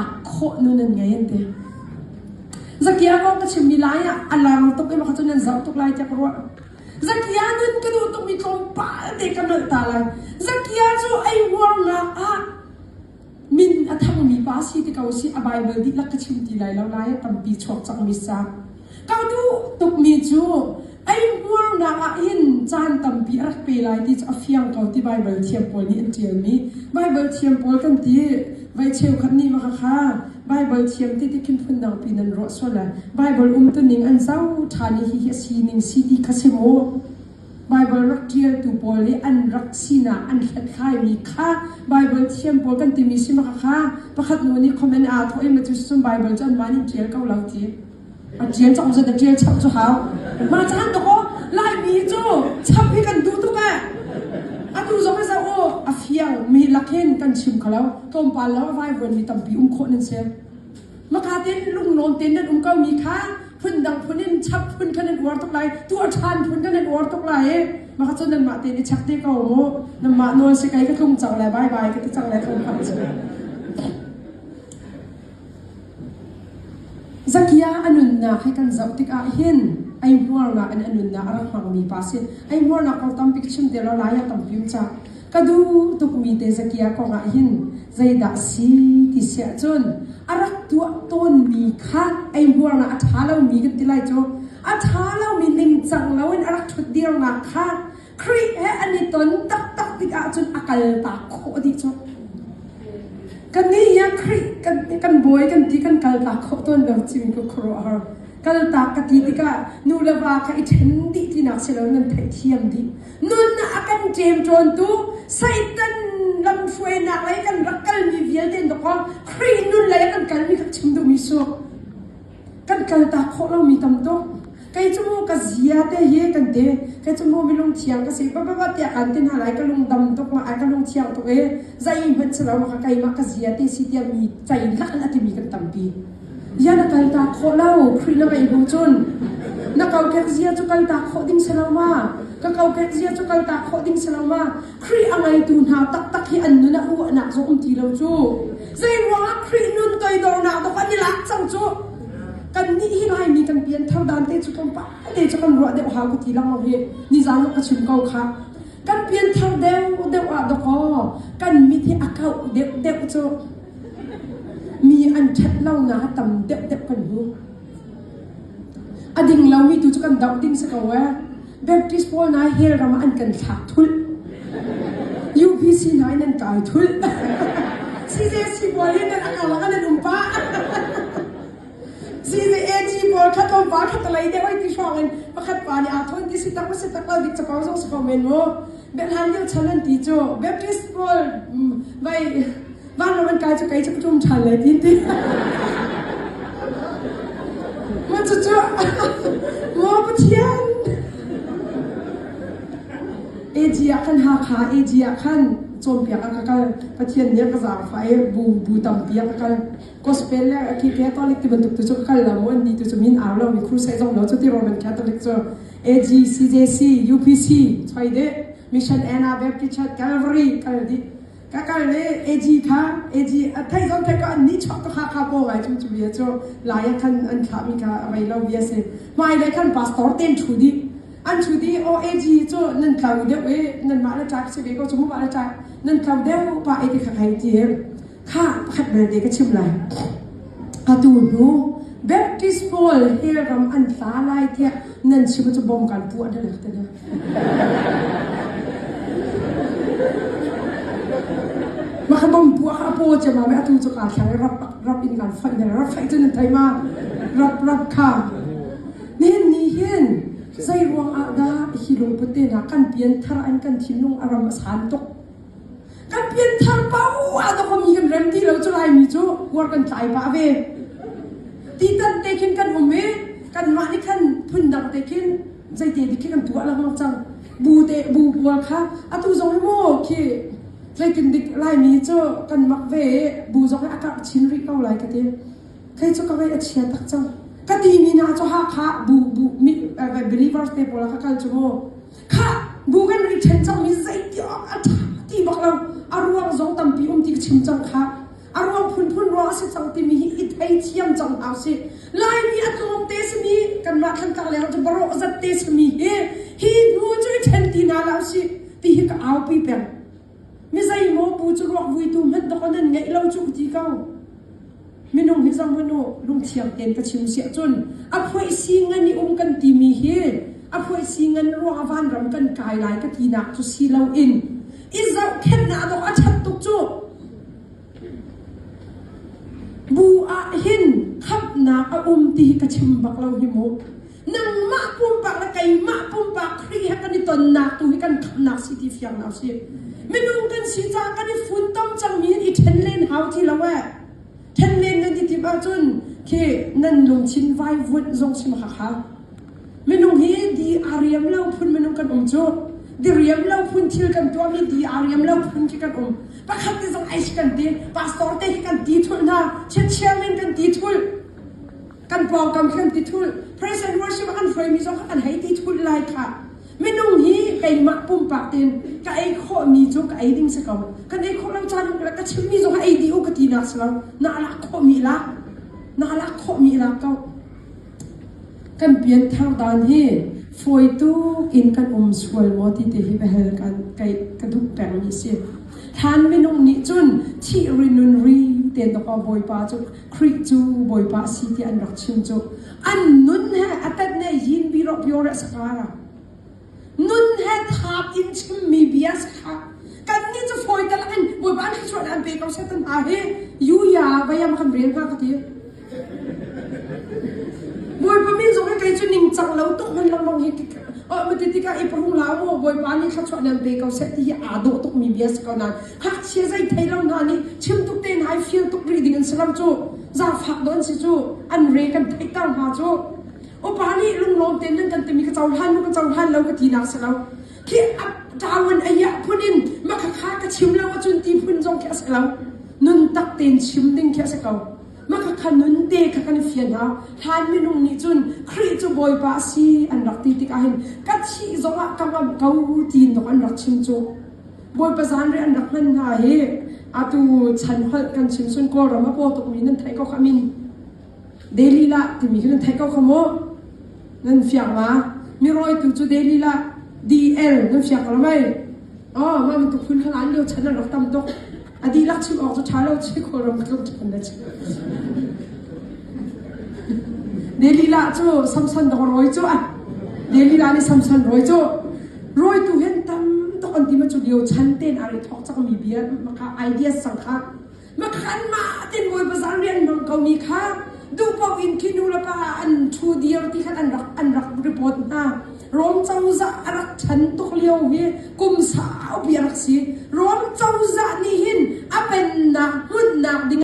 khawh nun an ngei an ti zakia kong ka chimmi lai ah a lang tuk i cun an zoh tuk lai tiah ka ruah zakia nun ka duh tuk mi tlawmpal te ka nalh ta lai zakia cu ei uarnak ah min a thangmi pa si ti ko si a bible dihlak ka chim ti lai lo lai tampi chuak cakmi sa Ka duh tukmi cu ei hmurnak ah hin caan tampi a rak pe lai ti cu a fiang ko ti Baibal thiam pawl nih an ṭialmi. Baibal thiam pawl kan ti, voi cheukhat nih mah khakha Baibal thiam tete khin phundang piin an ruah sual lai. Baibal umtuning an zau ṭhan i hihi a sining si ti kha si mu. Baibal rak ṭialtu pawl nih an rak sinah an hlathlaimi kha Baibal thiam pawl kan timi si mah khakha pakhat nu nih comment aa thawh i macu cucun Baibal cu anmah nih an ṭial ko lo ti. A ṭial cu ongzet a ṭial chap cu hau. Mah caan tuk aw, Laimi cu chap hi kan duh tuk eh. Atu zong i zoh u, a fiang mi lak hin kan chim kho lo. Tlawmpal lo vaivuan mi tampi um khawh nan si. Maka tein lunglawn tein nan um ko mi kha phundang phun in chap phun kha nan uar tuk lai, tuah ṭhan phun kha nan uar tuk lai i maka cu nanmah tein i chek te ko mu. Nanmah nawl si kei ka tlung cang le bye bye ka ti cang le ko hmanh si. Zakia a nunnak hi kan zoh tikah hin ei hmuarnak in a nunnak a rak hmangmi pa a si. Ei hmuarnak kong tampi ka chim te law lai ah kan fimcah. Ka duh tukmi te Zakia kong ah hin zeidah a si ti si ahcun a rak tuah tawnmi kha ei hmuarnak a ṭha lomi kan ti lai cu. A ṭha lomi ningcang loin a rak ṭhutdirnak kha Khrih he an i ton taktak tikah cun a kaltak khawh dih cu. Kan nih hi Khrih kan, kan bawi kan ti kan kaltak khawh tawn lo civin ka khuaruahhar. Kaltak ka ti tikah nu le va ka i ṭhen dih tinak si lo nan theihthiam dih. Nunnak a kan ṭem ṭawntu Satan lamhruainak lei kan rak kalmi vialte in dawkaw Khrih nun lei a kan kalmi kha chim duhmi su. kan kaltak khawh lomi tam tuk. Kei cu ka zia te hi kan ti. Kei cu maw mi lungthiang ka si. Papapa tiah kan ti hna lai. Ka lungdam tuk ma, ka lungthiang tuk i zei hmanh si lo ma, ka keimah ka zia te si tiah mi cei lak in a timi kan tampi. Bia na kaltak khawh lo. Khrih na ngei bu cun na kokek zia cu kaltak khawh ding si lo ma. Ka kokek zia cu kaltak khawh ding si lo ma. Khrih a ngeitu hna taktak hi an nun a uahnak zong um ti lo cu. Zeiruangah Khrih nun toidornak dawk an i lak cang cu? Kannih hi Laimi kan pianthar dan te cu tlawmpal te cu kan ruah deuh hau ka ti langlo hi nizan lawk ka chim ko kha. Kan pianthar deuh deuh ah dawk aw kan mit hi a kauh deuh deuh cu mi an ṭhat lonak a tam deuh deuh kan hmu. A ding lomi tu cu kan doh ding si ko ee. Baptist pawl hna hell ram ah an kan thlak thulh. UPC hna in an kai thulh. CJC pawl in an karlak an an um pa. CJAG pawl khat om pa khat lai de oi ti hrawng in pakhat pa nih aa thon ti si tak si tak la dik capau zong si ko men mu. Bethan dil chan an ti chu Baptist pawl vai vanlawng an kai cu kei cu ka ṭum ṭhan lai tin ti. Maw cucu maw Pathian AG ah khan Hakha AG ah khan cawnpiak a ka kal Pathian nih a ka zaangfah i bu bu tampi a ka kal gospel le a khi catholic ti bantuk tu cu ka kal lo maw an ni tu cu min au lo mi crusade zong lo cu ti Roman Catholic cu AG CJC UPC choi de Mission Anna Baptist Church Calvary kal dih ka kal le AG tha AG a thei on thei ka an ni chok ka kha kha po ngai chung chu ye chu lai a khan an thla mi ka vai lo bia se mai le khan pastor ten thu di an thu di o AG chu nan tlau deuh e nan ma na chak se ve ko chu mu ma na chak nan tlau deuh pa e ti kha kai ti e kha pakhat na de ka chim lai atu hnu Baptist Paul he ram an tla lai te nan chim chu bom kan pu an lak te Mahabang bu a po che ma atu chu ka thare rap rap in kan fan dere rap fai tu ne thai ma rap rap kha nin ni hin zai ruang a da hi lung pute na kan pian thar an kan thinlung aram a san tuk kan pianthar pa a dok um hin rem ti lo cu Laimi cu kuar kan tlai pah ve ti tan te khin kan um i kanmah nih khan phundang te khin zeite dik khi kan tuah lengmang cang bu te bu pual kha atu zong hi maw khi zeitin dik laimi cu kan mak ve i bu zong hi a karh chin rih ko lai ka ti kei cu ka vei a chia tak cang ka ti mi na cu hakha bu bu mi believers te pawl kha kal cu maw khah Google ri ṭhen cangmi zeitiang a ṭha ti bak lo a ruang zong tampi um ti ka chim cang kha a ruang phunphun ruang a si cang timi hi i thei thiam cang hau si laimi a tlawmte simi kanmah thangka leng cu baro zat te sami hi hi hnu cu i ṭhen ti na la si ti hi ka aupi peng Mizeimaw pu cu ruakvuitu hmanh dok a nan ngeih lo cuh ti ko. Minung hi zong hmanu lungthiang tein ka chim siah cun a phoih si ngan i um kan timi hi a phoih si ngan ruang a vanram kan kai lai ka tinak cu si lo in i zohkhenhnak dawh a ṭhat tuk cuh. Bu ah hin khamhnak a um ti hi ka chim bak lo hi mu. Nangmah pumpak le keimah pumpak Khrih he kan i tonnak tu hi kan khamnak si ti fiang na si. Minung kan si caah kan i funtom cangmi in i ṭhen len hau ti lo e. Ṭhen len nan i tim ahcun khi nan lungthin vai vuanh zong sim haka. Minung hi di aa riam lo phun minung kan um cu. Diriam lo phun thil kan tuahmi di aa riam lo phun khi kan um. Pakhat nih zong ais kan ti, pastor te hi kan ti thul hna, chiatchiam in kan ti thul. Kan pawngkam khi kan ti thul. Praise and worship a kan hruaimi zong kha kan hei ti thul lai kha. Minung hi keimah pumpak tein ka ei khawhmi cu ka ei ding si ko. Kan ei khawh lo caan ka chimmi zong ka ei dih u ka ti nak si lo. Na alak khawhmi la. Na alak khawhmi la ko. Kan pianthar dan hi fawi tuk in kan um sual maw ti te hi biahal kan ka duh pengmi a si. Hlan minung nih cun thih ri nun ri tein dawkaw Bawipa cu Khrih cu Bawipa a si tiah an rak chim cu. An nun he a tat ne yin bi rawh pio rih a si hnga la. nun he thap in chimmi bias kha kannih cu fawitel in Bawipa an hrichuan an pe ko Satan hna hi yuya vayam kan rel hna ka ti. Bawipa min zong hi kei cu ningcang lo tuk hon lengmang hi mati tika i purung la u Bawipa nih thluachuah nan pe ko set ti hi aa dawh tuk mi bias ko nan hngakchia zai thei lo hna nih chim tuk te hna i feel tuk rih ding an si ram cu zaafak do an si cu an re kan theih ta hna cu Upa nih lunglawm tein nan kan timi ka cohlan lo ka cohlan lo ka tinak a si lo. Khi a tawan a hiah phun in makha ka chim lo ahcun ti phun zong khi a si lo. Nun tak tein chim ding khi a si ko. Makha nun te kha kan fian hna. Hlan minung nih cun Khrih cu Bawipa a si an rak ti tik ahhin ka thih zong ah ka ngamh ko tiin dok an rak chim cu. Bawipa zan ri an rak hman hna hi atu chan holh kan chimsun Kawlram a paw tukmi nan theih ko kha min Delilah timi cu nan theih ko kha mu. Nan fiang ma? Mi rawitu cu Delilah, DL, nan fiang ko lo mei? Oh, mah bantuk phun khan an lio chan an rak tam tuk. A dihlak chim awk cu ṭha lo si, khawl ram tluk ṭhan na si. Delilah cu Samson dong rawi cu a. Delilah nih Samson rawi cu rawitu hen tam tuk an ti ma cu lio chan tein a ri thawk cakmi bia maka ideas sang kha Kanmah a tinbawi bazar rian bang komi kha duh paoh in khi nu le pa an ṭhu dir ti khan an rak an rak report hna. Rom cozah a rak ṭhan tuk lio hi kum saupi a rak si. Rom cozah nih hin a pennak hmunhnak ding